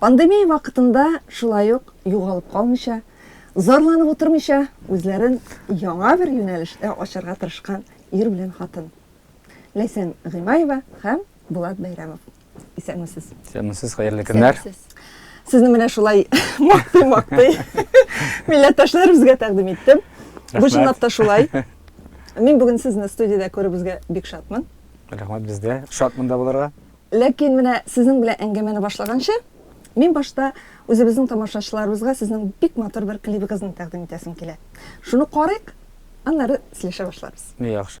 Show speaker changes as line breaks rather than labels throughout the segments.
Пандемия вакытында шулай ук югалып калмыйча, зарланып утырмыйча, үзләрен яңа бер юнәлештә ачарга тырышкан ир белән хатын. Ләйсән Гыймаева һәм Булат Бәйрәмов. Исәнмесез. Исәнмесез, хәерле
көннәр. Сезне менә
шулай мактый-мактый милләттәшләребезгә тәкъдим иттем. Бу чынлап та шулай. Мин бүген сезне студиядә күрүебезгә бик шатмын. Рәхмәт бездә.
Шат монда булырга. Ләкин менә
сезнең белән әңгәмәне башлаганчы, мин башта үзебезнең тамашачыларыбызга сезнең бик матур бер клибыгызны тәкъдим итәсем килә. Шуны карыйк, аннары сөйләшә башларбыз. Яхшы.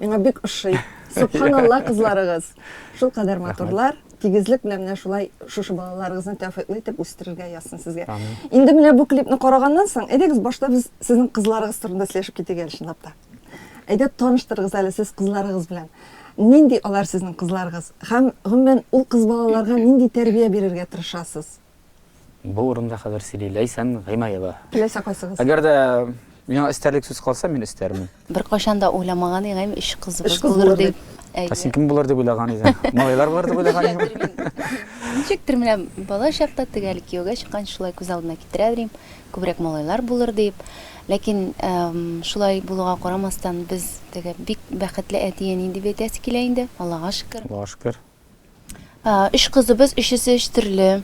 Миңа бик ошый. Субханалла кызларыгыз. Шул кадәр матурлар. Тигезлек белән менә шулай шушы балаларыгызны тәүфыйклы итеп үстерергә язсын сезгә. Инде менә бу клипны караганнан соң, әйдәгез башта без сезнең кызларыгыз турында сөйләшеп китик әле чынлап та. Әйдә таныштырыгыз әле сез кызларыгыз белән. Нинди алар сезнең кызларыгыз? Һәм гомумән ул кыз балаларга нинди тәрбия бирергә тырышасыз? Бу
урында хәзер сөйли Ләйсән Гыймаева. Теләсә кайсыгыз. Әгәр
дә
миңа өстәрлек сүз калса, мин өстәрмен. Беркайчан да
уйламаган идем, өч кызыбыз булыр дип. Ә син кем булыр дип
уйлаган идең? Малайлар булыр дип уйлаган идең? Ничектер
менә бала чакта теге әле кияүгә чыккан шулай күз алдына китерә белим, күбрәк малайлар булыр дип. Ләкин шулай булуга карамастан, без теге бик бәхетле әти-әни дип әйтәсе килә инде, Аллага шөкер. Аллага шөкер. Өч кызыбыз, өчесе өч төрле.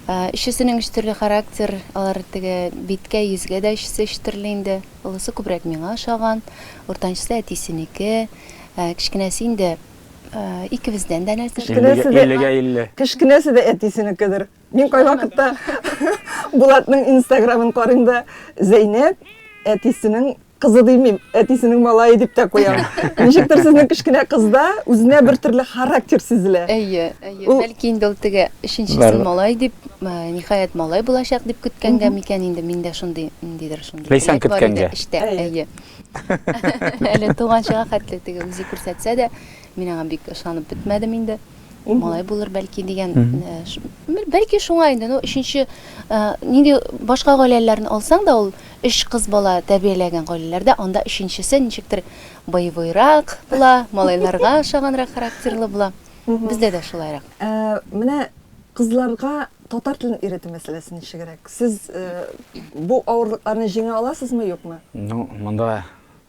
Өчесенең өч төрле характер, алар теге биткә, йөзгә дә өчесе өч төрле инде. Олысы күбрәк миңа ошаган, уртанчысы әтисенеке, кечкенәсе инде икебездән дә нәрсә. Кечкенәсе дә,
кечкенәсе дә әтисенекедер. Мин кайвакытта Булатның инстаграмын карыйм да, Зәйнәп әтисенең кызы димим, әтисенең малае дип тә куям. Ничектер сезнең кечкенә кызда үзенә бер төрле характер сизелә. Әйе, әйе. Ул...
Бәлки инде ул теге өченчесе малай дип, ниһаять малай булачак дип көткәнгә микән инде миндә шундый ниндидер шундый. Ләйсән көткәнгә. Эштә,
әйе.
Әле туганчыга хәтле теге үзе күрсәтсә дә, мин аңа бик ышанып бетмәдем инде. малай булыр бәлки дигән бәлки шуңа инде ну өченче нинди башка гаиләләрне алсаң да ул өч кыз бала тәрбияләгән гаиләләрдә анда өченчесе ничектер боевойрак була малайларга ошаганрак характерлы була бездә дә шулайрак менә
кызларга татар телен өйрәтү мәсьәләсе ничегрәк сез бу авырлыкларны җиңә аласызмы юкмы ну монда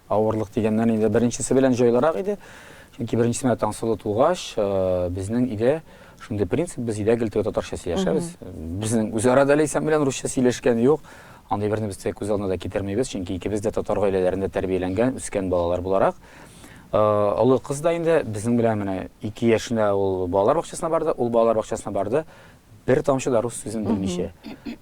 Авырлык дигәннән инде беренчесе белән җайлырак иде, чөнки беренчесе менә Таңсылу тугач, безнең өйдә шундый принцип, без өйдә гел теге татарча сөйләшәбез. Безнең үзара да Ләйсән белән русча сөйләшкән юк. Андый берни без дә күз алдына да китермибез, чөнки икебез дә татар гаиләләрендә тәрбияләнгән, үскән балалар буларак. Олы кыз да инде безнең белән менә ике яшенә ул балалар бакчасына барды, ул балалар бакчасына барды. Бер тамчы да рус сүзен белмичә.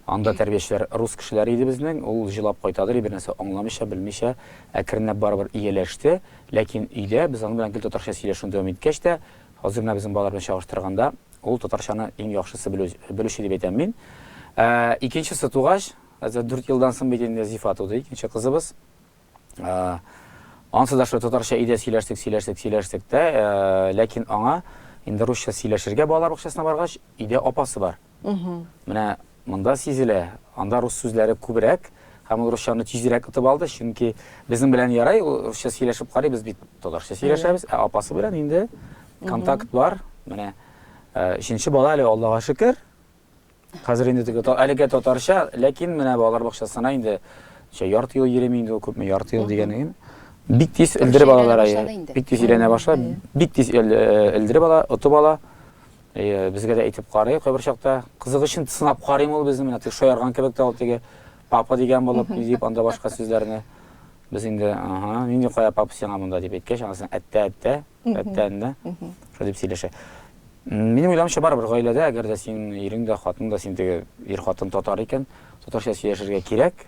Анда тәрбиячеләр рус кешеләре иде безнең, ул җылап кайтадыр и бернәрсә аңламыйча, белмичә, әкренләп барыбер ияләште, ләкин өйдә без аның белән гел татарча сөйләшүне дәвам иткәч тә, хәзер менә безнең балалар белән чагыштырганда, ул татарчаны иң яхшысы белүче дип әйтәм мин. Икенчесе тугач, хәзер дүрт елдан соң бит инде Зифа туды, икенче кызыбыз. Ансы да шулай татарча өйдә сөйләштек, сөйләштек, сөйләштек тә, ләкин аңа инде русча сөйләшергә балалар бакчасына баргач, өйдә апасы бар. Менә монда сизелә, анда рус сүзләре күбрәк, һәм ул русчаны тизрәк отып алды, чөнки безнең белән ярай, русча сөйләшеп карый, без бит татарча сөйләшәбез, ә апасы белән инде контакт бар. Менә өченче бала әле, Аллага шөкер. Хәзер инде теге әлегә татарча, ләкин менә балалар бакчасына инде шә ярты ел йөрим инде ул күпме ярты ел дигәнем. Бик тиз элдереп алалар ая. Бик тиз өйрәнә баша, бик тиз элдереп ала, отып ала. Безгә дә әйтеп карый, кайбер чакта кызык өчен сынап карыйм ул безне, менә теге шаярган кебек тә ул теге папа дигән булып, дип анда башка сүзләрне. Без инде, ага, нинди кая папа сиңа монда дип әйткәч, анасын әттә-әттә, Әттән дә. Шулай дип сөйләшә. Минем уйлавымча барыбер гаиләдә, әгәр дә син ирең дә, хатының да син теге ир хатын татар икән, татарча сөйләшергә кирәк.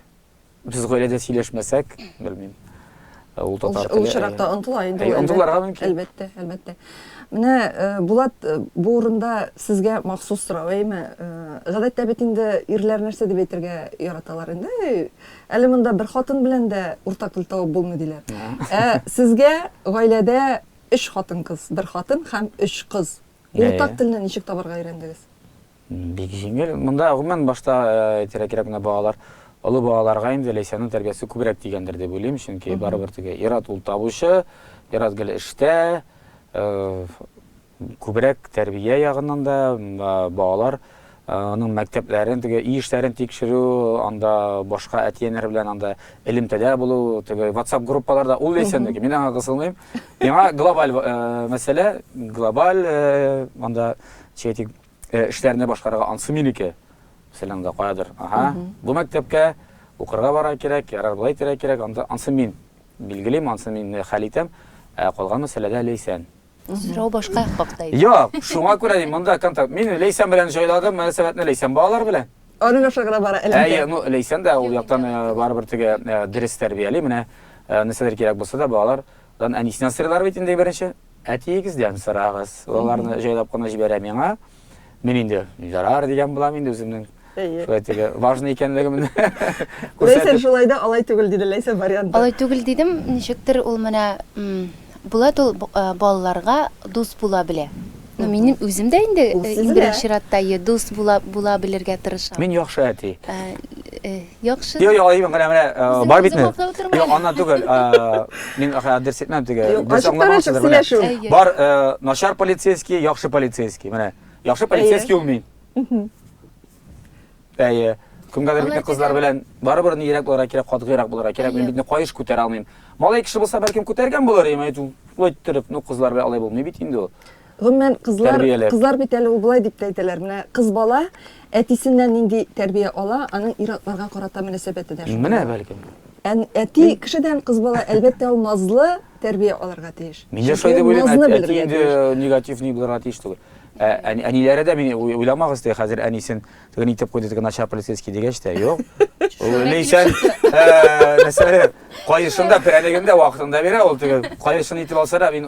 Без гаиләдә сөйләшмәсәк, белмим. Э, ул татар теле. Ул очракта э, онтыла
инде.
Э,
онтыларга мөмкин. Әлбәттә,
әлбәттә.
Менә Булат бу урында сезгә махсус сорау, әйме? Гадәттә бит инде ирләр нәрсә дип әйтергә яраталар инде? Әле монда бер хатын белән дә уртак тел табып булмый, диләр. Ә сезгә гаиләдә өч хатын-кыз, бер хатын һәм өч кыз. Уртак телне ничек табарга өйрәндегез? Бик
җиңел. Монда, гомумән, башта әйтергә кирәк, балалар, олы балаларга инде Ләйсәннең тәрбиясе күбрәк тигәндер дип уйлыйм, чөнки барыбер теге ир-ат ул табучы, ир-ат гел эштә, Күбрәк тәрбия ягыннан да балалар аның мәктәпләрен, теге өй эшләрен тикшерү, анда башка әти-әниләр белән анда элемтәдә булу, теге WhatsApp группаларда ул ләйсән дә мин аңа кысылмыйм. Миңа глобаль мәсьәлә, глобаль анда чәйтик эшләрне башкарырга ансы минеке. Мәсәлән, анда каядыр. Ага. Бу мәктәпкә укырга бара кирәк, ярар болай тирә кирәк, анда ансы мин билгелим, ансы мин хәл итәм, ә калган мәсьәләдә ләйсән. Сорау башка
хакта иде. Юк, шуңа күрә мин
монда контакт. Мин Лейсән белән җайладым мөнәсәбәтне Лейсән балалар белән. Аның аша гына бара
әлбәттә. Әйе, ну Лейсән дә ул
яктан э, барыбер теге э, дөрес тәрбияли. Менә э, нәрсәләр кирәк булса да балалардан әнисеннән сорыйлар бит инде беренче. Әтиегездән сорагыз. Аларны җайлап кына җибәрә миңа. Мин инде ярар дигән булам инде үземнең. Шулай теге важный икәнлегемне күрсәтеп.
Ләйсә шулай да алай түгел диде Ләйсә вариант. Алай түгел дидем,
ничектер ул менә Булат ул балаларга дус була белә. Ну минем үзем дә инде иң беренче чиратта дус була була белергә тырышам. Мин яхшы әти. Яхшы. Йо, йо, айым, менә,
менә, э, бар битме? Йо, ана түгел, э, мин адрес әйтмәм теге. Дөрес аңламаучыдыр, менә. Бар, э, начар полицейский, яхшы полицейский, менә. Яхшы полицейский ул мин. Әйе. Кемгәдер битне кызлар белән барыбер ни ирәк буларга кирәк, катгыйрак буларга кирәк. Мин битне кайыш күтәрә алмыйм. Малай кеше булса, бәлкем күтәргән булыр, әмма әйтү, иттереп, ну кызлар белән алай булмый бит инде ул. Гомумән, кызлар,
Тәрбияләр. кызлар бит әле ул болай дип тә әйтәләр, менә кыз бала әтисеннән нинди тәрбия ала, аның ир-атларга карата мөнәсәбәте дә шундый. Менә бәлкем.
Ән, әти
кешедән кыз бала, әлбәттә, ул назлы тәрбия алырга тиеш. Мин дә шулай дип уйлыйм, Назны
әти белергә инде тиеш. негатив ни булырга тиеш түгел. Ә, әни- әниләре дә мине уй- уйламагыз теге хәзер әнисен теге ни итеп куйды теге начар полицейский дигәч тә, юк. Ул Ләйсән ә, нәрсәләр, каешын да, прәнеген дә вакытында бирә ул теге. Каешын итеп алса да, мин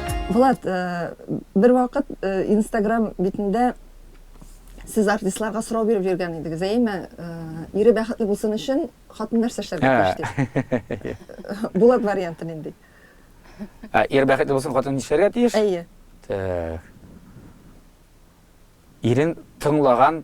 Булат, бер вакыт инстаграм битендә сез артистларга сорау биреп йөргән идегез, әйеме? Ире бәхетле булсын өчен, хатын нәрсә эшләргә тиеш дип. Булат варианты нинди?
Ир бәхетле булсын, хатын нишләргә тиеш? Әйе. Ирен тыңлаган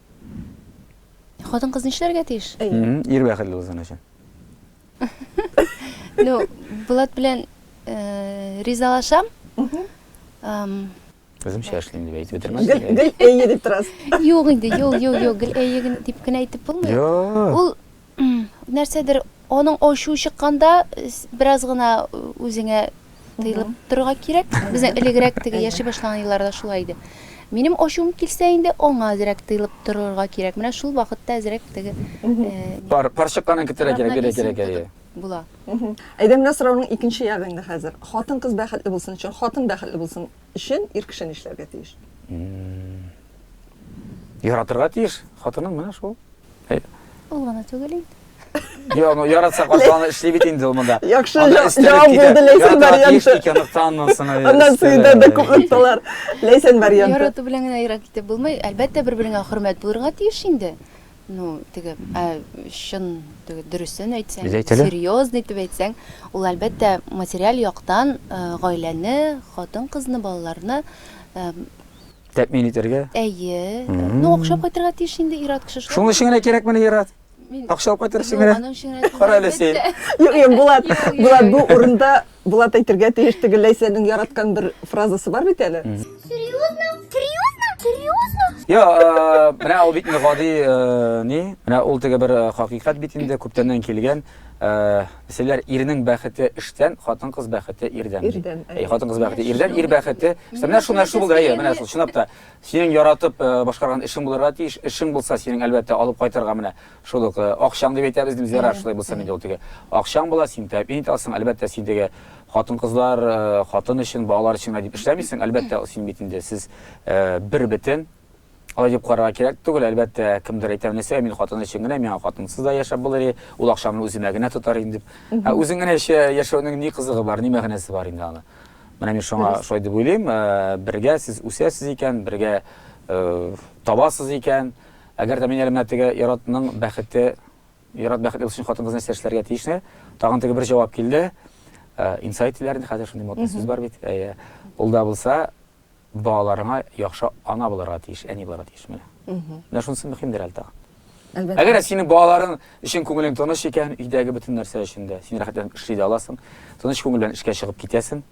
Хатын-кыз нишләргә тиеш? Ир бәхетле булсын
өчен.
Ну, Булат белән э, ризалашам.
Үземчә эшлим дип әйтеп бетермәс. Гел гел әйе
дип
торасыз.
Юк инде, юк, юк,
юк, гел әйе дип кенә әйтеп булмый. Юк. Ул Нәрсәдер аның ачуы чыкканда бераз гына үзеңә тыелып торырга кирәк. Безнең элегрәк теге яши башлаган елларда шулай иде. Минем ачуым килсә инде аңа әзрәк тыелып торырга кирәк. Менә шул вакытта әзрәк теге Пар, пар
чыкканын көтәргә кирәк, бирә кирәк, әйе. Була.
Әйдә, менә
сорауның икенче ягы инде хәзер. Хатын-кыз бәхетле булсын өчен, хатын бәхетле булсын өчен ир кеше нишләргә тиеш?
Яратырга тиеш. Хатының менә шул. Э, Ул
гына түгел инде. Йо, ну
яратса каршы аны эшли бит инде ул монда. Яхшы Анда җа- өстәлеп җавап
китә. булды Ләйсән Яратырга тиеш варианты. икән, октаннан соң, э, Аннан өстәлеп. сөйдә дә күп нокталар. Ләйсән варианты. Ярату белән генә ерак китеп
булмый. Әлбәттә, бер-береңә хөрмәт булырга тиеш инде. Ну, теге, ә, чын, теге, дөресен әйтсәң, Без әйтәле. серьезный итеп әйтсәң, ул әлбәттә материаль яктан э, гаиләне, хатын-кызны, балаларны э,
Тәэмин итәргә? Әйе.
Ну, акча кайтырга тиеш инде ир-ат кеше. Шуның өчен генә кирәк менә
ир-ат. Акча алып кайтыр өчен генә. Кара әле син. Юк, юк, Булат.
Булат бу урында Булат әйтергә тиеш теге Ләйсәнең яраткан бер фразасы бар бит әле. Серьезно? Серьезно? Серьезно?
Я, э, менә ул бит гади э, ни? Менә ул теге бер э, хакыйкать бит инде күптәннән килгән. Дисәләр, ирнең бәхете эштән, хатын-кыз бәхете ирдән. Ирдән. Әй, хатын-кыз бәхете ирдән, ир бәхете. Эштән. Менә шул нәрсә булды, әйе, менә шул, чынлап та. Синең яратып э, башкарган эшең булырга тиеш. Эшең булса, синең әлбәттә алып кайтырга менә шул ук э, акчаң дип әйтәбез, без ярар, шулай булса инде ул теге. Акчаң була, син тәэмин итә аласың, әлбәттә, син теге хатын-кызлар, э, хатын өчен, балалар өчен генә дип эшләмисең, әлбәттә, син бит инде сез бер бетен, Алай дип карарга кирәк түгел, әлбәттә, кемдер әйтә, нәрсә мин хатын өчен генә, миңа хатынсыз да яшәп булыр и, ул акчаны үземә генә тотар инде дип. Ә үзең генә яшәүнең ни кызыгы бар, ни мәгънәсе бар инде аны? Менә мин шуңа шулай дип уйлыйм, э, бергә сез үсәсез икән, бергә э, табасыз икән, әгәр дә мин әле менә теге Яратның бәхете, Ярат бәхетле өчен хатын-кыз нәрсә эшләргә тиешне, тагын теге бер җавап килде. Э, инсайт диләр инде хәзер шундый модный сүз бар бит. Әйе. Ул да булса, балаларыңа яхшы ана булырга тиеш, әни булырга тиеш. Менә. Менә шунысы мөһимдер әле тагын. Әлбәттә. Әгәр синең
балаларың
өчен күңелең тыныч икән, өйдәге бөтен нәрсә өчен дә син рәхәтләнеп эшли дә аласың. Тыныч күңел белән эшкә чыгып китәсең.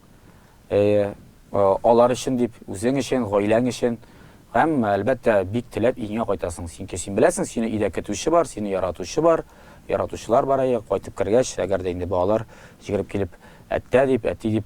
Э, алар өчен дип, үзең өчен, гаиләң өчен. Һәм, әлбәттә, бик теләп иңә кайтасың. Чөнки син беләсең, сине өйдә көтүче бар, сине яратучы бар, яратучылар бар әйе, кайтып кергәч, әгәр дә инде балалар җигереп килеп, әттә дип, әти дип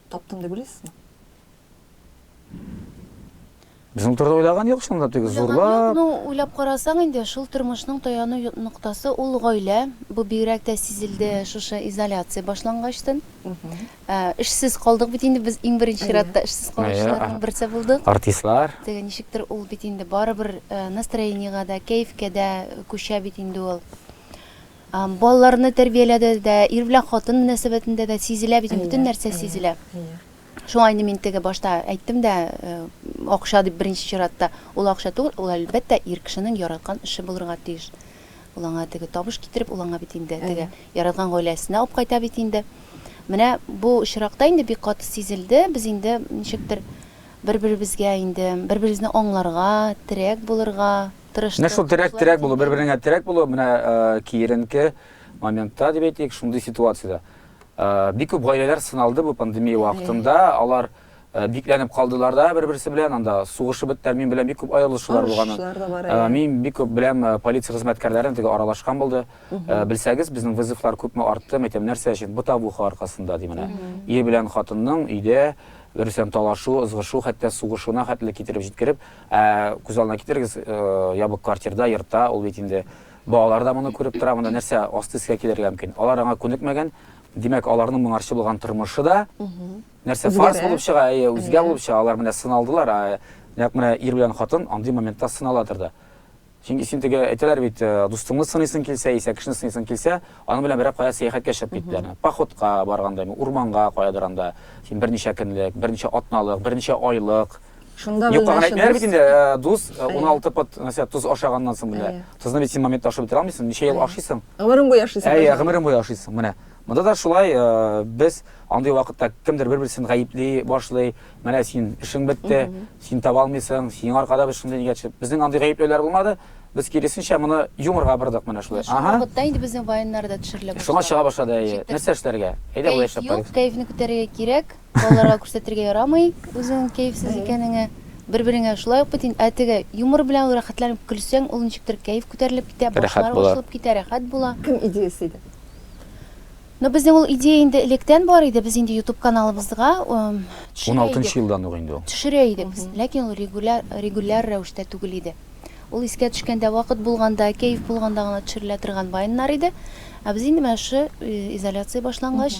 Таптым дип уйлыйсызмы?
Без ул турыда уйлаган юк шунда, тик зурлап. Ну, уйлап карасаң
инде, шул тормышның таяну ноктасы ул гаилә. Бу бигрәк тә сизелде шушы изоляция башлангачтын. Ә, эшсез калдык бит инде без иң беренче чиратта эшсез калучыларның берсе булдык. Артистлар. Теге
ничектер ул
бит инде барыбер э, настроениегә дә, кәефкә дә күчә бит инде ул. Балаларны тәрбияләдә дә, ир белән хатын мөнәсәбәтендә дә сизелә бит, бөтен нәрсә сизелә. Шуңа инде мин теге башта әйттем дә, акча дип беренче чиратта, ул акча түгел, ул әлбәттә ир кешенең яраткан эше булырга тиеш. Ул аңа теге табыш китереп, ул аңа бит инде теге яраткан гаиләсенә алып кайта бит инде. Менә бу очракта инде бик каты сизелде, без инде ничектер бер-беребезгә инде, бер-беребезне аңларга, терәк булырга, тырыштык. Менә шул терәк-терәк булу,
бер-береңә терәк булу, менә киеренке моментта дип әйтик, шундый ситуациядә. Бик күп гаиләләр сыналды бу пандемия вакытында, алар бикләнеп калдылар да бер-берсе белән, анда сугышып беттеләр, мин беләм бик күп аерылышулар булганын. Мин бик күп беләм полиция хезмәткәрләрен, теге аралашкан булды. Белсәгез, безнең вызовлар күпме артты, мәйтәм, нәрсә өчен? Бытовуха аркасында ди менә. Ир белән хатынның өйдә берсен талашу, ызгышу, хәтта сугышуына хәтле китереп җиткереп, Ә күз алдына китерегез, ябык квартирда, йортта, ул бит инде балалар да моны күреп тора, монда нәрсә асты-өскә килергә мөмкин. Алар аңа күнекмәгән, димәк, аларның моңарчы булган тормышы да нәрсә фарс булып чыга, әйе, үзгә булып чыга. Алар менә сыналдылар, нәкъ менә ир белән хатын андый моментта сыналадыр да. Чөнки син теге әйтәләр бит, э, дустыңны сынысың килсә, исә кешене сынысың килсә, аның белән берәр кая сәяхәткә чыгып киттеләр. Походка барганда, урманга каядыр анда, син берничә көнлек, берничә атналык, берничә айлык. Шунда Юкка гына
әйтмәләр бит инде,
э, дус 16 э, пот, нәрсә, тоз ашаганнан соң менә. Тозны бит син моментта ашап бетерә алмыйсың, ничә ел ашыйсың? Гомерең буе ашыйсың.
Әйе, гомерең буе ашыйсың, менә.
Монда да шулай, без андый вакытта кемдер бер-берсен гаепли башлый, менә син эшең бетте, син таба алмыйсың, синең аркада без шундый нигә төшеп. Безнең андый гаепләүләр булмады, без киресенчә моны юморга бордык менә шулай. Шул вакытта инде безнең
ваеннар да төшерелә башлады. Шуңа чыга башлады, әйе. Нәрсә
эшләргә? Әйдә болай эшләп карыйк. Кәефне күтәрергә кирәк,
балаларга күрсәтергә ярамый үзеңнең кәефсез икәнеңне. Бер-береңә шулай ук бит инде. Ә теге юмор белән ул рәхәтләнеп көлсәң, ул ничектер кәеф күтәрелеп китә, башлар ачылып китә, рәхәт була.
Кем
идеясе иде? Ну, безнең ул идея инде электән бар иде, без инде YouTube каналыбызга төшерә идек.
16 елдан ук инде ул. Төшерә идек без, ләкин
ул регуляр, регуляр рәвештә түгел иде. Ул искә төшкәндә, вакыт булганда, кәеф булганда гына төшерелә торган вайннар иде. Ә без инде менә шушы изоляция башлангач,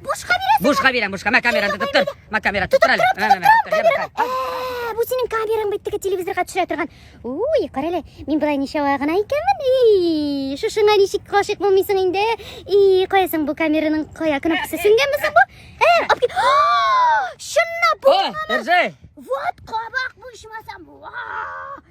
Бушка
бирәсең. Бушка
бирәм, бушка. Мә камераны
тотып тор. Мә камераны тотып тор әле. Мә, мә, мә, тотып тор. Йә, мә. Ә,
бу синең камераң бит теге телевизорга төшерә торган. Уй, кара әле, мин болай ничава гына икәнмен. И, шушыңа ничек гашыйк булмыйсың инде? И, кая соң бу камераның кая кнопкасы сүнгәнме соң бу? Ә, алып кит. О, Чынлап О, бу. Эрзәй.
Вот кабак
бу ичмасам. Вау!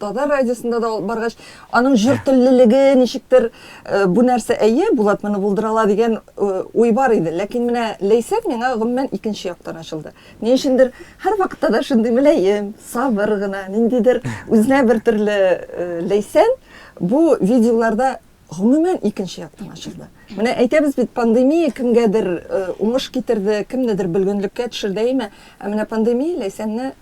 Татар радиосында да баргач, аның җыр теллелеге ничектер э, бу нәрсә әйе, Булат моны булдыра ала дигән э, уй бар иде. Ләкин менә Ләйсән миңа гомумән икенче яктан ачылды. Ни өчендер һәр вакытта да шундый мөлаем, сабыр гына, ниндидер үзенә бер төрле э, Ләйсән бу видеоларда гомумән икенче яктан ачылды. Менә әйтәбез бит, пандемия кемгәдер э, уңыш китерде, кемнедер бөлгенлеккә төшерде әйме, ә менә пандемия Ләйсәнне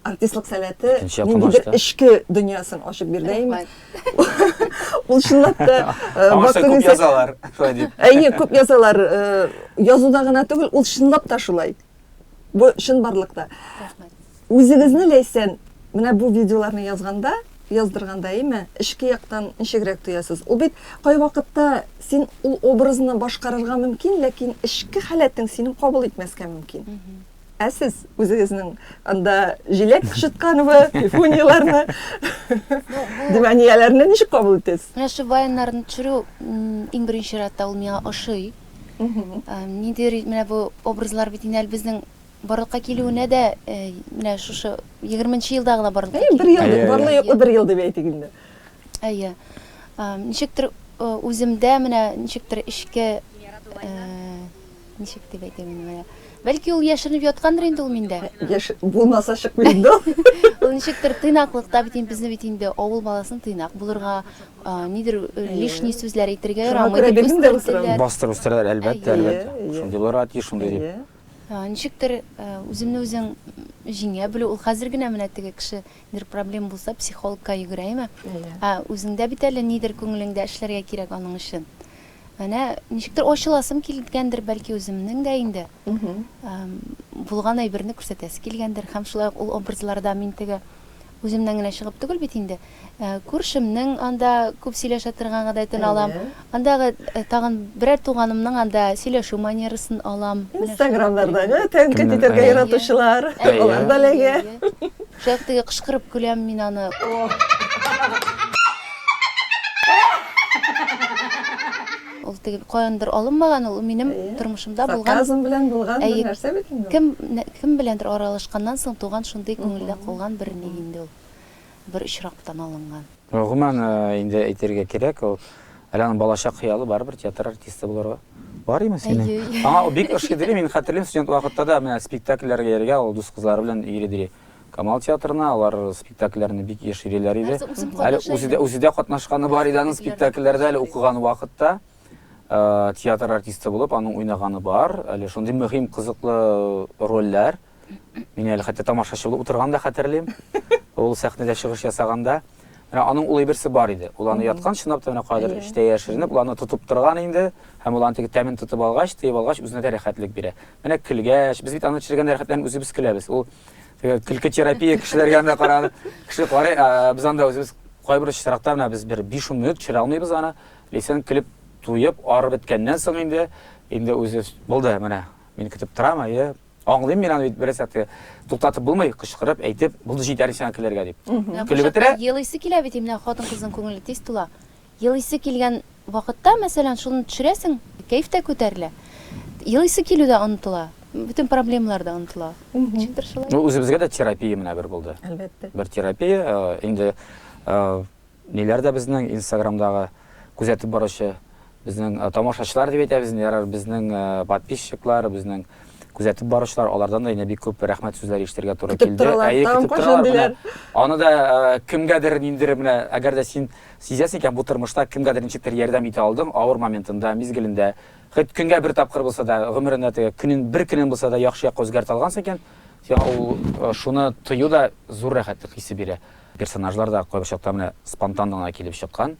Артистлык сәләте ниндидер эчке дөньясын ачып бирде инде. Ул чынлап та вакыт күп язалар, шулай
дип. Әйе, күп язалар.
Язуда гына түгел, ул чынлап та шулай. Бу чын барлыкта. Үзегезне Ләйсән, менә бу видеоларны язганда, яздырганда име, эчке яктан ничегрәк тоясыз? Ул бит кайвакытта син ул образны башкарырга мөмкин, ләкин эчке халәтең синең кабул итмәскә мөмкин. Ә сез үзегезнең анда җиләк кычытканыбы, пифунияләрне, димәнияләрне ничек кабул итәсез? Менә шул баяннарны
төшерү иң беренче чиратта ул миңа ошый. Ниндидер менә бу образлар бит инде безнең барлыкка килүенә дә э, менә шушы 20 елда гына барлыкка килде. Бер ел, барлык юклы бер
ел дип әйтик инде. Әйе.
Ничектер э, үземдә менә ничектер эчке э, Ничек дип әйтим инде моны? Бәлки ул яшеренеп яткандыр инде ул миндә. Яшь булмаса
чыкмый инде ул. Ул ничектер
тыйнаклыкта бит инде безне бит инде авыл баласын тыйнак булырга, нидер лишний сүзләр әйтергә ярамый дип үстерделәр. Бастырып үстерәләр,
әлбәттә, әлбәттә. Шундый булырга тиеш, шундый дип. Ничектер
үземне үзең җиңә белү, ул хәзер генә менә теге кеше Бер проблем булса, психологка йөгерәеме? Әйе. Ә үзеңдә бит әле нидер күңелеңдә эшләргә кирәк аның өчен. Менә ничектер ачыласым килгәндер, бәлки үземнең дә инде. Булган әйберне күрсәтәсе килгәндер. Һәм шулай ук ул образларда мин теге үземнән генә чыгып түгел бит инде. Күршемнең анда күп сөйләшә торган гадәтен алам. Андагы тагын берәр туганымның анда сөйләшү манерасын алам. Инстаграмнардагы
тәнкыйть итәргә яратучылар, алар да эләгә. Шулай ук теге
кычкырып көләм мин аны. Ул теге каяндыр алынмаган ул, минем тормышымда булган. Сарказм белән булган бер
нәрсә бит инде ул. Кем, кем беләндер
аралашканнан соң туган шундый күңелдә калган бер ни инде ул. бер очрактан алынган. Гомумән,
инде әйтергә кирәк, ул Алиянең балачак хыялы барыбер театр артисты булырга. Бар име синең? Әйе, әйе. Аңа ул бик ошый дили, мин хәтерлим, студент вакытта да менә спектакльләргә йөрергә ул дус кызлары белән йөри дили. Камал театрына, алар спектакльләрне бик еш йөриләр иде. Нәрсә, үзем Әле катнаша үзе дә, идем. үзе дә катнашканы бар иде аның спектакльләрдә, әле укыган вакытта э, театр артисты булып аның уйнаганы бар. Әле шундый мөһим, кызыклы э, рольләр. Мин әле хәтта тамашачы булып утырган да хәтерлим. Ул сәхнәдә чыгыш ясаганда, менә аның улы берсе бар иде. Ул аны яткан чынлап та менә кадер эштә яшеренеп, ул аны тотып торган инде. Һәм ул аны теге тәмен тотып алгач, тыеп алгач, үзенә дә рәхәтлек бирә. Менә көлгәч, без бит аны төшергән рәхәтләнеп үзебез көләбез. Ул теге көлке терапия кешеләргә анда караганда, кеше карый, ә, без анда үзебез кайбер очракта менә без бер 5 минут төшерә алмыйбыз аны. Лейсан көлеп, туеп, арып беткәннән соң инде, инде үзе булды, менә мин көтеп торам, әйе, Аңлыйм мин аны бит бераз әтте. Туктатып булмый, кычкырып, әйтеп, булды җитәр сиңа көләргә дип. Көлеп бетерә. Елыйсы килә бит имнә
хатын кызның күңеле тиз тула. Елыйсы килгән вакытта, мәсәлән, шуны төшерәсең, кәеф тә күтәрелә. Елыйсы килү дә онытыла. Бөтен проблемалар да онытыла. Ничектер шулай. Ну, үзебезгә дә терапия
менә бер булды. Әлбәттә. Бер терапия, инде Ниләр дә безнең инстаграмдагы күзәтеп баручы, безнең тамашачылар дип әйтәбез инде, ярар, безнең подписчиклар, безнең күзәтеп баручылар, алардан да инде бик күп рәхмәт сүзләре ишетергә туры килде. Көтеп торалар, Әйе, тагын көтеп кайчан торалар. Менә
диләр.
аны да э, кемгәдер ниндер менә, әгәр дә син сизәсең икән бу тормышта кемгәдер ничектер ярдәм итә алдың, авыр моментында, мизгелендә, хоть көнгә бер тапкыр булса да, гомерендә теге көнен бер көнен булса да яхшы якка үзгәртә алгансың икән, сиңа ул э, шуны тою да зур рәхәтлек хисе бирә. Персонажлар да кайбер чакта менә спонтан гына килеп чыккан.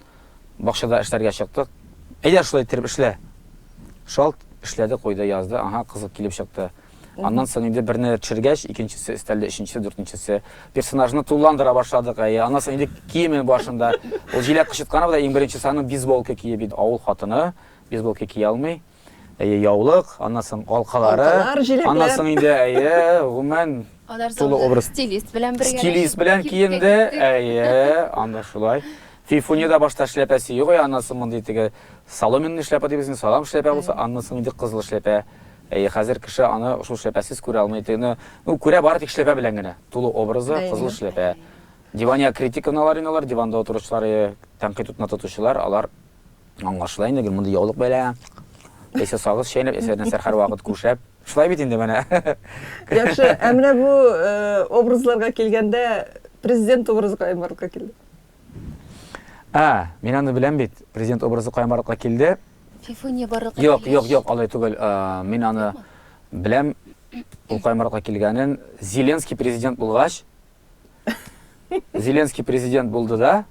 Бакчада эшләргә чыктык. Әйдә, шулай иттереп эшлә! Шалт эшләде, куйды, язды. Аңа кызык килеп чыкты. Аннан соң инде берне төшергәч, икенчесе өстәлде, өченчесе, дүртенчесе. Персонажны тулыландыра башладык, әйе. Аннан соң инде киемен башын да. Ул җиләк кычытканы белән иң беренчесе аның бейсболка киеп иде. Авыл хатыны бейсболка кия алмый. Әйе, яулык, аннан соң алкалары, Алкалар, җиләкләр. аннан соң
инде әйе,
гомумән Алар тулы соңында образ. Стилист белән бергә. Стилист
белән киенде,
әйе, анда шулай. Фифуньяда башта шляпәсе юк, әйе, аннан соң мондый теге соломенный шляпа дибез инде, салам шляпа булса, аннан соң инде кызыл шляпа. Әйе, хәзер кеше аны шул шляпәсез күрә алмый. Тегене, ну, күрә бары тик шляпа белән генә. Тулы образы, Әйе. кызыл шляпа. Дивания критиканалар инде алар, диванда утыручылар, әйе, тәнкыйть утына тотучылар, алар Аңлашыла инде, гел мондый яулык бәйләгән. Эче сагыз чәйнәп, эче нәрсә һәрвакыт күшәп. Шулай бит инде менә. Яхшы,
ә менә бу э, образларга килгәндә президент образы каян барлыкка килде? А,
мин аны беләм бит. Президент образы каян барлыкка килде? Фифуния барлыкка
Юк, юк, юк, алай түгел.
Э, мин аны беләм. Ул каян барлыкка килгәнен. Зеленский президент булгач, Зеленский президент булды да,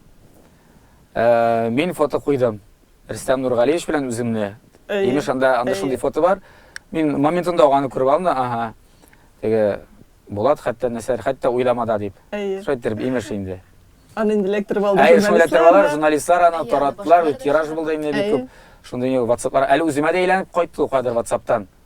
Мин фото куйдым. Рөстәм Нургалиевич белән үземне. Имеш анда анда шундый фото бар. Мин моментында ук аны күреп алдым. Ага. Теге Булат хәтта нәрсәләр хәтта уйламада дип. Шулай итеп имеш инде. Аны инде электр
балды. Әйе, шулай итеп журналистлар
аны тараттылар, тираж булды инде бик күп. Шундый WhatsApp-лар әле үземә дә әйләнеп кайтты, кадәр WhatsApp-тан.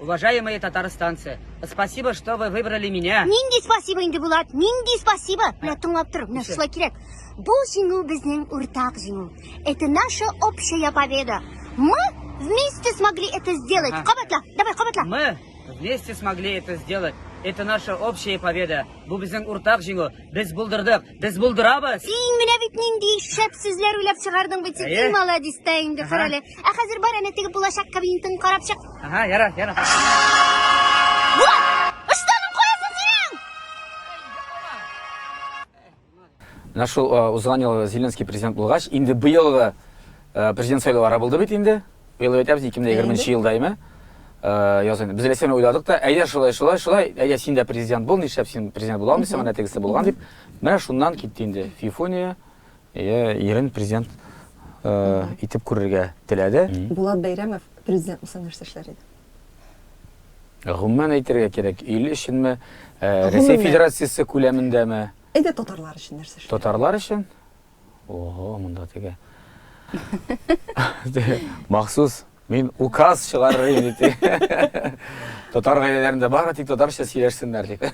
Уважаемые татарстанцы, спасибо, что вы выбрали меня. Нинди спасибо инде
Булат, нинди спасибо. Менә тыңлап тор, менә шулай кирәк. Бу җиңү безнең уртак җиңү. Это наша общая победа. Мы вместе смогли это сделать. Кабатла, давай кабатла. Мы вместе
смогли это сделать. Это наша общая победа. Бу безнең уртак җиңү. Без булдырдык, без булдырабыз. Син менә бит нинди
шәп сүзләр уйлап чыгардың бит. Әйе. Син молодец та инде, Ага. Фәрәле. Ә хәзер бар әнә теге булачак кабинетын карап чык. Ага, яра, яра. Булат! Ыштаның каясы синең?
Менә шул узган ел Зеленский президент булгач, инде быелгы президент сайлаулары булды бит инде. Быел әйтәбез 2020 елда име? Яз инде. Без Ләсәне уйладык та, әйдә шулай, шулай, шулай, әйдә син дә президент бул, нишләп син президент була алмыйсың, менә тегесе булган дип. Менә шуннан китте инде. Фифуния ирен президент итеп күрергә теләде. Булат Бәйрәмов
президент булса нәрсә эшләр иде?
Гомумән әйтергә кирәк, ил өченме, ә, Гомумән. Рәсәй Федерациясе күләмендәме? Әйдә татарлар
өчен нәрсә эшләр? Татарлар өчен?
Ого, монда теге. Теге, Махсус мин указ чыгарыр идем дип. Татар гаиләләрендә бары тик татарча сөйләшсеннәр дип.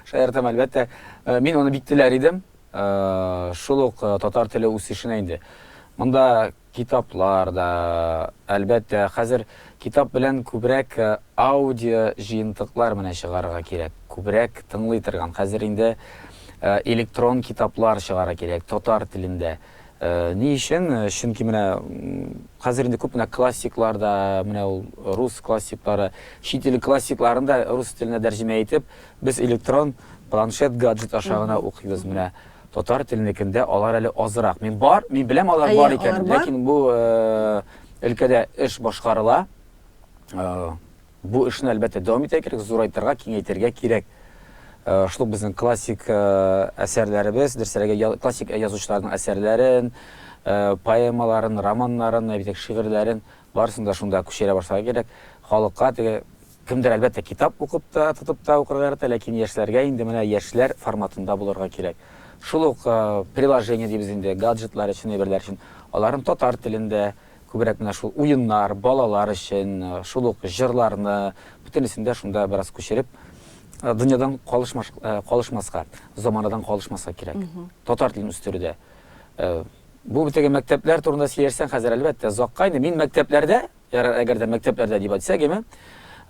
Шаяртам, әлбәттә. Э, Мин аны бик теләр идем. Э, Шул ук э, татар теле үсешенә инде. Монда Китаплар да, әлбәттә. Хәзер китап белән күбрәк аудио җыентыклар менә чыгарырга кирәк. Күбрәк тыңлый торган. Хәзер инде электрон китаплар чыгарырга кирәк, татар телендә. Ни өчен? Чөнки менә хәзер инде күп менә классиклар да, менә ул рус классиклары, чит ил классикларын да рус теленә тәрҗемә итеп, без электрон планшет, гаджет аша гына укыйбыз. Менә Татар теленекендә алар әле азрак. Мин бар, мин беләм алар бар икәнен. Әйе, алар бар. Ләкин бу өлкәдә эш башкарыла. Бу эшне, әлбәттә, дәвам итәргә кирәк, зурайтырга, киңәйтергә кирәк. Шул ук безнең классик әсәрләребез, дөресрәге, классик язучыларның әсәрләрен, поэмаларын, романнарын, әйбәт шигырьләрен, барысын да шунда күчерә башларга кирәк. Халыкка теге Кемдер, әлбәттә, китап укып та, тотып та укырга ярата, ләкин яшьләргә инде менә яшьләр форматында булырга кирәк. Шул ук приложение дибез инде, гаджетлар өчен, әйберләр өчен. Аларын татар телендә, күбрәк менә шул уеннар, балалар өчен, шул ук җырларны, бөтенесен дә шунда бераз күчереп, дөньядан калышмаска, заманадан калышмаска кирәк. Татар телен үстерүдә. Бу бит теге мәктәпләр турында сөйләшсәң, хәзер, әлбәттә, озакка инде. Мин мәктәпләрдә, Ярар, әгәр дә мәктәпләрдә дип әйтсәк, әйме?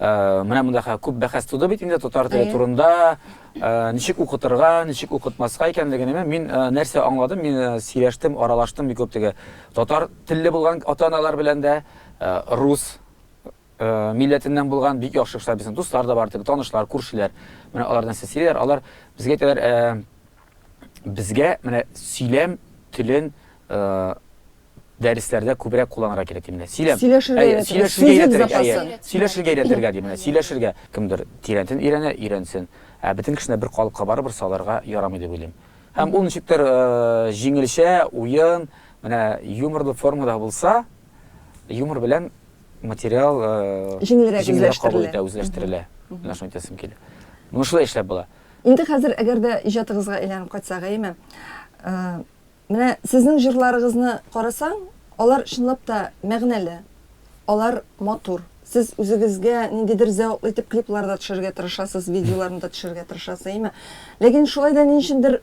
Э, менә монда хәзер күп бәхәс туды бит инде татар теле турында, э, ничек укытырга, ничек укытмаска икәнлеген. Әмма мин э, нәрсә аңладым? Мин сөйләштем, аралаштым бик күп теге татар телле булган ата-аналар белән дә, рус милләтеннән булган бик яхшы кешеләр, безнең дуслар да бар, теге танышлар, күршеләр. Менә алар нәрсә сөйлиләр, алар безгә әйтәләр, безгә менә сөйләм телен дәресләрдә күбрәк кулланырга кирәк дип менә сөйләм сөйләшергә өйрәтергә дип менә сөйләшергә кемдер тирәнтен өйрәнә өйрәнсен ә бөтен кешене бер калыпка барыбер салырга ярамый дип уйлыйм һәм ул ничектер җиңелчә уен менә юморлы формада булса юмор белән материал җиңелрәк үзләштерелә үзләштерелә менә шуны әйтәсем килә моны шулай эшләп була Инде хәзер әгәр
дә иҗатыгызга әйләнеп кайтсак, әйеме? Менә сезнең җырларыгызны карасаң, алар чынлап та мәгънәле, алар матур. Сез үзегезгә ниндидер зәвыклы итеп клиплар да төшерергә тырышасыз, видеоларны да төшерергә тырышасыз, әйеме? Ләкин шулай да ни өчендер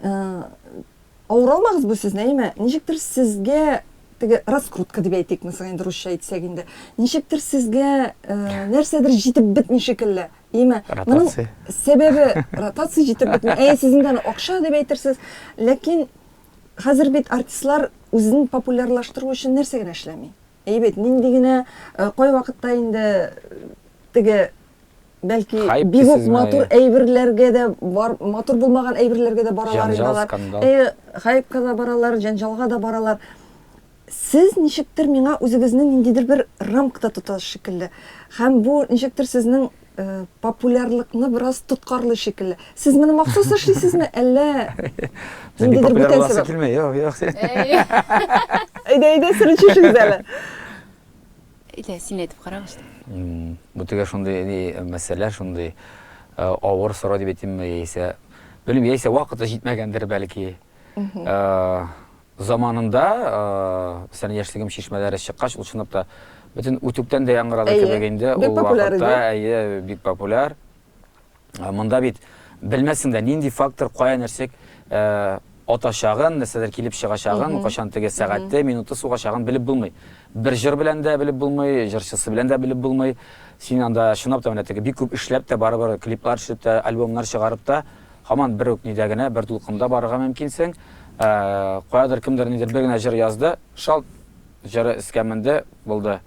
авыр алмагыз бу сезне, әйеме? Ничектер сезгә теге раскрутка дип әйтик, мәсәлән, инде русча әйтсәк инде, ничектер сезгә нәрсәдер җитеп бетми шикелле. Димә, моның сәбәбе ротация җитеп бетми. Әйе, сезнең дә акча дип әйтерсез, ләкин хәзер бит артистлар үзен популярлаштыру өчен нәрсә генә эшләми. Әйе бит, нинди генә э, кай вакытта инде э, теге бәлки бик үк матур әйберләргә дә бар, матур булмаган әйберләргә дә баралар инде алар. Әйе, хайпка да баралар, җәнҗалга да баралар. Сез ничектер миңа үзегезне ниндидер бер рамкада тотасыз шикелле. Һәм бу ничектер сезнең популярлыкны бераз тоткарлый шикелле. Сез моны махсус эшлисезме, әллә ниндидер бүтән сәбәп? Юк, юк.
Әйдә,
әйдә, сер ачышыгыз әле.
Әйдә, син әйтеп карагыз. Бу теге
шундый мәсьәлә, шундый авыр сорау дип әйтимме, яисә, белмим, яисә вакыты җитмәгәндер, бәлки. Заманында, мәсәлән, яшьлегем чишмәләре чыккач, ул чынлап та бөтен үтүктән дә яңгырады кебек инде. Әйе, бик популяр иде. Ул вакытта, әйе, бик популяр. Монда бит белмәссең дә, нинди фактор кая нәрсә атачагын, нәрсәләр килеп чыгачагын, кайчан теге сәгате, минуты сугачагын белеп булмый. Бер җыр белән дә белеп булмый, җырчысы белән дә белеп булмый. Син анда чынлап та менә теге бик күп эшләп тә, барыбер клиплар төшереп тә, альбомнар чыгарып та, Һаман бер үк нидә генә, бер дулкында барырга мөмкинсең. Каядыр кемдер нидер бер генә җыр язды, шалт җыры эскә менде, булды.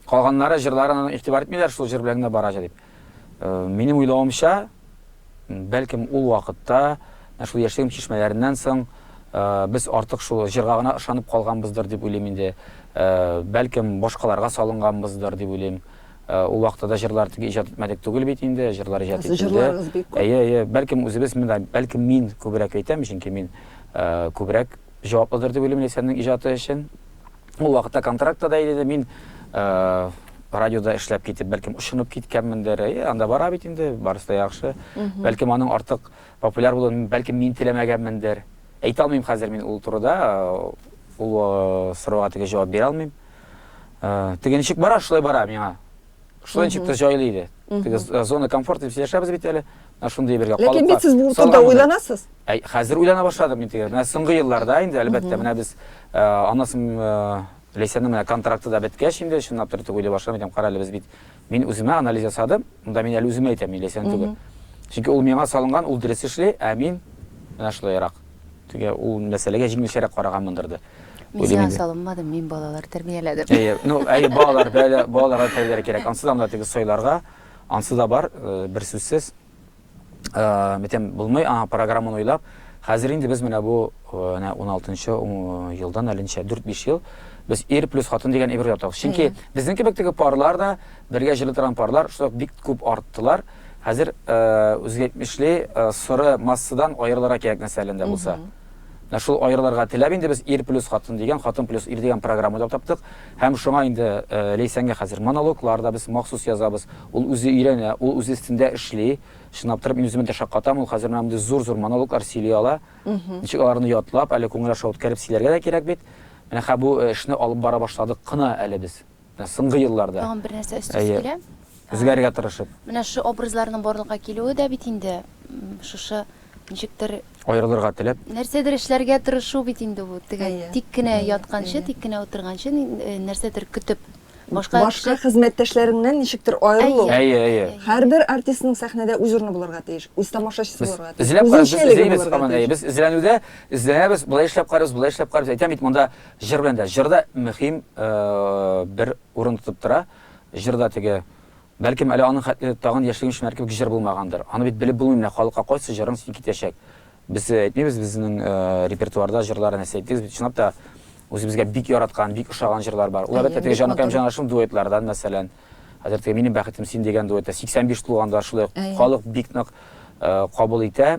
Калганнары җырларын игътибар итмиләр, шул җыр белән генә бара җыр дип. Минем уйлавымча, бәлкем ул вакытта, шул яшьлегем чишмәләреннән соң, без артык шул җырга гына ышанып калганбыздыр дип уйлыйм инде. Бәлкем башкаларга салынганбыздыр дип уйлыйм. Э, ул вакытта да җырлар тик иҗат итмәдек түгел бит инде, җырлар иҗат ителде. Җырларыгыз бик күп. Әйе, әйе, бәлкем үзебез монда, бәлкем мин күбрәк әйтәм, чөнки мин э, күбрәк җаваплыдыр дип уйлыйм Ләйсәннең иҗаты өчен. Ул вакытта контрактта да иде, мин э, радиода эшләп китеп, бәлкем ушынып киткәнмендер. Әйе, анда бара бит инде, барысы да яхшы. Бәлкем аның артык популяр булуын, бәлкем мин теләмәгәнмендер. Әйтә алмыйм хәзер мин ул турыда, ул сорауга теге җавап бирә алмыйм. Теге ничек бара, шулай бара миңа. Шулай ничек тә җайлы иде. Теге зона комфорта дип сөйләшәбез бит әле. Шундый бергә калып. Ләкин бит сез бу турыда
уйланасыз. Хәзер уйлана
башладым мин теге. Менә соңгы елларда инде әлбәттә менә без аннан Ләйсәннең менә контракты да беткәч инде чынлап та уйлый башладым. Әйтәм, кара әле без бит Мин үземә анализ ясадым, монда мин әле үземә әйтәм, мин Ләйсән түгел. Чөнки ул миңа салынган, ул дөрес эшли, ә мин менә шулайрак. Теге ул мәсьәләгә җиңелчәрәк караганмындыр да. Мин сиңа
салынмадым, мин балалар тәрбияләдем. Әйе, ну, әйе, балалар,
балаларга тәрбияләргә кирәк. Ансыз да монда теге сойларга, ансы да бар, бер сүзсез. Битем булмый, аңа программаны уйлап, хәзер инде без менә бу 16 нчы елдан әле ничә, 4-5 ел без ир плюс хатын дигән әйбер ятабыз. Чөнки безнең кебек теге парлар да, бергә җырлый торган парлар шулай ук бик күп арттылар. Хәзер үзгә әйтмешли, соры массадан аерылырга кирәк нәрсә әле дә булса. Менә шул аерылырга теләп инде без Ир плюс хатын дигән, Хатын плюс ир дигән программа да таптык. Һәм шуңа инде Ләйсәнгә хәзер монологлар да без махсус язабыз. Ул үзе өйрәнә, ул үз өстендә эшли. Чынлап торып, мин үземә дә шаккатам, ул хәзер менә мондый зур-зур монологлар сөйли ала. Ничек аларны ятлап, әле күңел аша үткәреп сөйләргә дә кирәк бит. Менә хә бу эшне алып бара башладык кына әле без. Соңгы елларда. Тагын бер нәрсә өстәсе килә.
Үзгәрергә тырышып.
Менә шушы образларның
барлыкка килүе дә бит инде шушы ничектер. Аерылырга теләп.
Нәрсәдер эшләргә
тырышу бит инде бу. Теге тик кенә ятканчы, тик кенә утырганчы нәрсәдер көтеп. Башка
хезмәттәшләреңнән ничектер аерылу. Әйе, әйе. Һәрбер артистның сәхнәдә үз урыны булырга тиеш, үз тамашачысы булырга тиеш. Үзенчәлеге булырга тиеш.
Без эзләнүдә эзләнәбез, болай эшләп карыйбыз, болай эшләп карыйбыз. Әйтәм бит, монда. Җыр белән дә. Җыр да мөһим бер урын тотып тора. Җыр да теге, бәлкем әле аның хәтле тагын яшьлегем шимәр кебек җыр булмагандыр. Аны бит белеп булмый, менә халыкка кайсы җырың син китәчәк. Без әйтмибез безнең репертуарда җырлар нәрсә әйтегез бит, чынлап та үзебезгә бик яраткан, бик ошаган җырлар бар. Ул әлбәттә теге Җаныкаем җанашым дуэтлардан, мәсәлән. Хәзер теге Минем бәхетем син дигән дуэт тә 85 тулганда шулай халык бик нык кабул итә.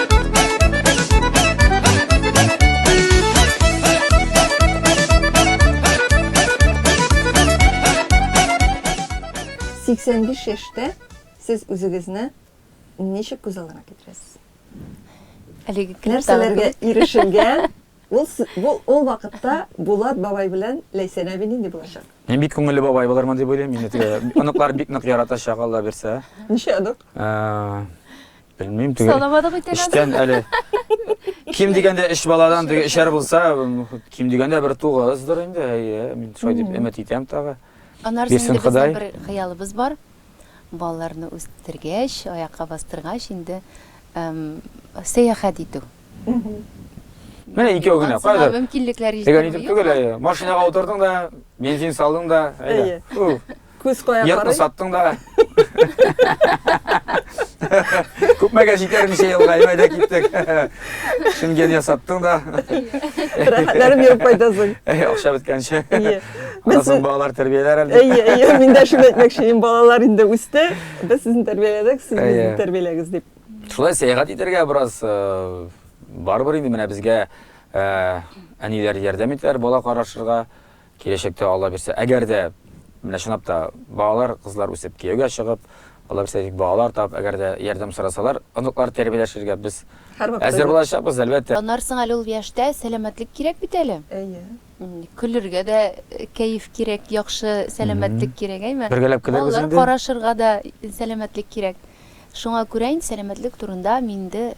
Сиксән биш яшьтә сез үзегезне ничек күз алдына китерәсез?
Әлеге нәрсәләргә
ирешелгән? Ул бу ул вакытта Булат бабай белән Ләйсән әби нинди булачак? Мин бик күңелле бабай
булырмын дип уйлыйм. Мине оныклар бик нык яратачак, Алла бирсә. Ничә онык? Белмим теге. Санамадык икән әле. Эштән әле. Ким дигәндә эш баладан теге эшәр булса, ким дигәндә бер тугыздыр инде. Әйе, мин шулай дип өмет итәм тагы. Анар Бирсен инде Ходай.
безнең бер хыялыбыз бар. Балаларны үстергәч, аякка бастыргач инде эм, сәяхәт итү.
Менә икәү генә. Ансына Кайда? мөмкинлекләр Дигән итеп җитми.
түгел, әйе.
Машинага утырдың да, бензин салдың да, әйдә. Әйе. Уф. Күз кая карый?
Йортны саттың да.
Күпмәгә җитәр ничә елга, әйбәдә киттек. Шенген ясаттың да. Рәхәтләрем
йөреп кайтасың. Әй, акча беткәнче.
Кызым
балалар тәрбияләр
әле. Әйе, әйе, мин дә шуны
әйтмәкче, мин балалар инде үсте. Без сезне тәрбияләдек, сез безне тәрбияләгез дип. Шулай сәяхәт
итәргә бераз э, барыбер инде менә безгә э, әниләр ярдәм итәр, бала карашырга. Киләчәктә, Алла бирсә, әгәр дә, менә чынлап та, балалар, кызлар үсеп кияүгә чыгып, Алла бирсә, бик балалар табып, әгәр дә ярдәм сорасалар, оныклар тәрбияләшергә без әзер булачакбыз,
әлбәттә.
Танарсың әле ул яшьтә,
сәламәтлек кирәк бит әле. Әйе.
Көлергә
дә кәеф кирәк, яхшы сәламәтлек кирәк, әйме? Бергәләп көләбез инде. Балалар
карашырга да
сәламәтлек кирәк. Шуңа күрә инде сәламәтлек турында минде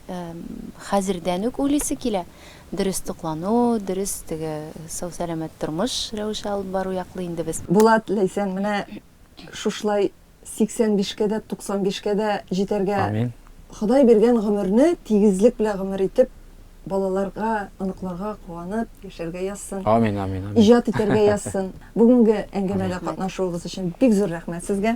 хәзердән үк уйлыйсы килә. Дөрес туклану, дөрес теге сау-сәламәт тормыш рәвеше алып бару яклы инде без. Булат, Ләйсән, менә
шушылай 85 кә дә, 95 кә дә җитәргә, Амин. Ходай
биргән
гомерне тигезлек белән гомер итеп, балаларга, оныкларга куанып яшәргә язсын. Амин, амин, амин. Иҗат
итәргә язсын.
Бүгенге әңгәмәдә катнашуыгыз өчен бик зур рәхмәт сезгә.